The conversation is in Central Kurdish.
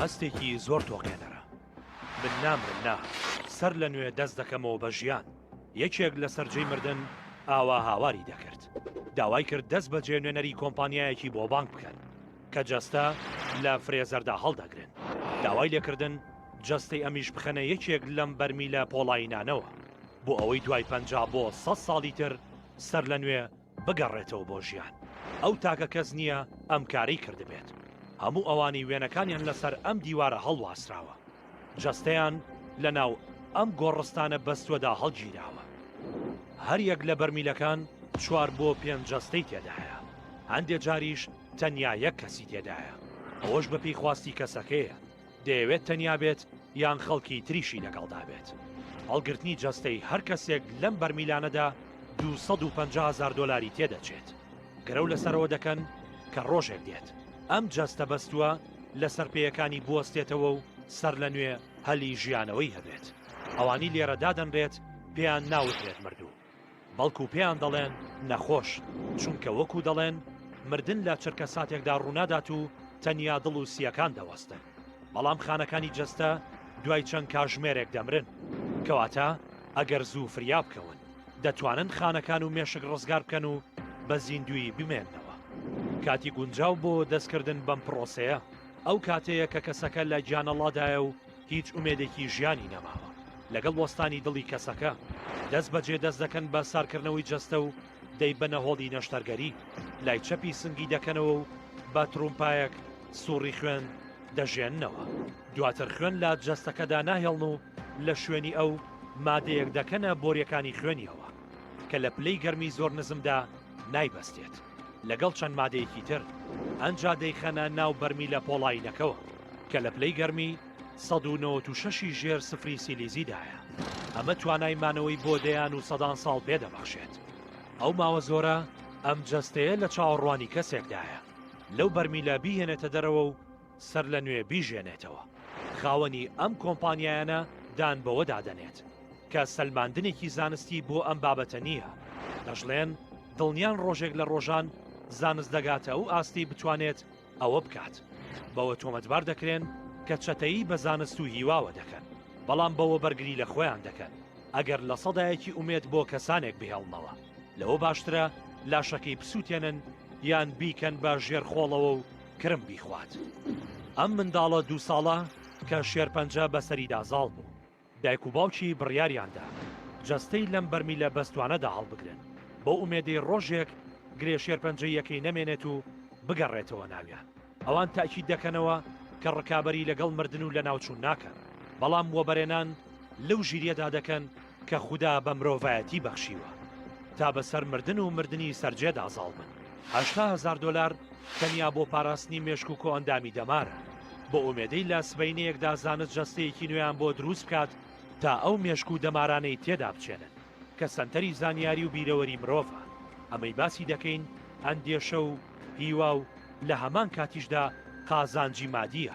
هەستێکی زۆر تۆقێنەرە من نام من نا سەر لە نوێ دەست دەکەمەوە بە ژیان یەکێک لە سەررجەی مردن ئاوا هاواری دەکرد داوای کرد دەست بە جێنوێنەری کۆمپانیایەکی بۆ بانک بکەن کە جەستە لە فرێزەردا هەڵدەگرن داوای لێکردن جەستەی ئەمیش بخەنە یەکێک لەم بەرمیلە پۆڵاینانەوە بۆ ئەوەی دوای پەنج بۆ سە ساڵی تر سەر لە نوێ بگەڕێتەوە بۆ ژیان ئەو تاکە کەس نییە ئەم کارەی کردبێت هەموو ئەوانی وێنەکانیان لەسەر ئەم دیوارە هەڵواسراوە جەستەیان لە ناو ئەم گۆڕستانە بەستوەدا هەڵگیراوە هەریەک لە بەرمیلەکان چوار بۆ پێنج جەستەی تێدایە هەندێ جاریش تەنیا یەک کەسی تێدایە ئەوەش بەپی خواستی کەسەکەیە دەیەوێت تەنیا بێت یان خەڵکی تریشی لەگەڵدا بێت. هەڵگرتنی جەستەی هەر کەسێک لەم بەرمیلانەدا دوو سەد و پەنجا هەزار دۆلاری تێدەچێت. گرەو لەسەرەوە دەکەن کە ڕۆژێک دێت ئەم جەستە بەستووە لەسەر پێیەکانی بوەستێتەوە و سەرلەنوێ هەلی ژیانەوەی هەبێت. ئەوانی لێرە دادەنرێت پێیان ناوترێت مردوو. بەڵکو پێیان دەڵێن نەخۆش، چونکە وەکو دەڵێن مردن لە چرکەساتێکدا ڕوونادات و تەنیا دڵ و سییەکان دەوەستن، بەڵام خانەکانی جەستە دوای چەند کاژمێرێک دەمرن، کەواتە ئەگەر زوو فریا بکەون، دەتوانن خانەکان و مێشک ڕزگار بکەن و بە زیندوویی بمێننەوە. کاتی گونجاو بۆ دەستکردن بەم پڕۆسەیە، ئەو کاتەیە کە کەسەکە لە گیانەڵادایە و، هیچ ئومێدێکی ژیانی نەماوە لەگەڵ وەستانی دڵی کەسەکە دەست بەجێ دەست دەکەن بە سارکردنەوەی جەستە و دەی بە نەهۆڵی نەشتەرگەری لای چەپی سنگی دەکەنەوە و بە ترومپایەک سوڕی خوێن دەژێننەوە دواتر خوێن لە جەستەکەدا ناهێڵن و لە شوێنی ئەو مادەیەک دەکەنە بۆریەکانی خوێنیەوە کە لە پلەی گەرمی زۆر نزمدا نایبەستێت. لەگەڵ چەند مادەیەکی تر ئەنجا دەیخەنە ناو بەرمیلە پۆڵایینەکەوە کە لە پلەی گەرمی 1996 ی ژێر سفری سیلیزیدایە ئەمە توانای مانەوەی بۆ دەیان و سەدان ساڵ پێ دەبەخشێت ئەو ماوە زۆرە ئەم جەستەیە لە چاوەڕوانی کەسێکدایە لەو بەرمیلە بیهێنێتە دەرەوە و سەرلەنوێ بیژێنێتەوە. خاوەنی ئەم کۆمپانیایانە دان بەوەدا دەنێت، کە سەلماندنێکی زانستی بۆ ئەم بابەتە نییە، دەشڵێن دڵنیان ڕۆژێک لە ڕۆژان زانست دەگاتە ئەو ئاستەی بتوانێت ئەوە بکات، بەوە تۆمەتبار دەکرێن کە چەتەیی بە زانست و هیواوە دەکەن، بەڵام بەوە بەرگری لە خۆیان دەکەن ئەگەر لە سەدایەکی ئومێد بۆ کەسانێک بهێڵنەوە، لەوە باشترە لاشەکەی بسووتێنن یان بیکەن بە ژێرخۆڵەوە و کرم بیخوات ئەم منداڵە دوو ساڵە کە شێرپەنجە بەسەریدا زاڵ بوو دایک و باوکی بڕیاریاندا جەستەی لەم بەرمیلە بەستوانەدا هەڵبگرن بۆ ئومێدەی ڕۆژێک گرێ شێرپەنجەیەکەی نەمێنێت و بگەڕێتەوە ناویان ئەوان تاکی دەکەنەوە کە ڕکابی لەگەڵ مردن و لە ناوچوون ناکەن بەڵام وەبەرێنان لەو ژیریەدا دەکەن کە خودا بە مرۆڤایەتی بەخشیوە تا بەسەر مردن و مردنی سەرجێدا زاڵ بن هەشتا هزار دۆلار تەنیا بۆ پاراستنی مێشک و کۆئەندامی دەمارە بۆ ئومێدەی لە سبینەیەکدا زانست جەستەیەکی نوێیان بۆ دروست بکات تا ئەو مێشک و دەمارانەی تێدا بچێنن کە سەنتەری زانیاری و بیرەوەری مرۆڤە ئەمەی باسی دەکەین ئەندێشە و هیوا و لە هەمان کاتیشدا قازانجی مادیە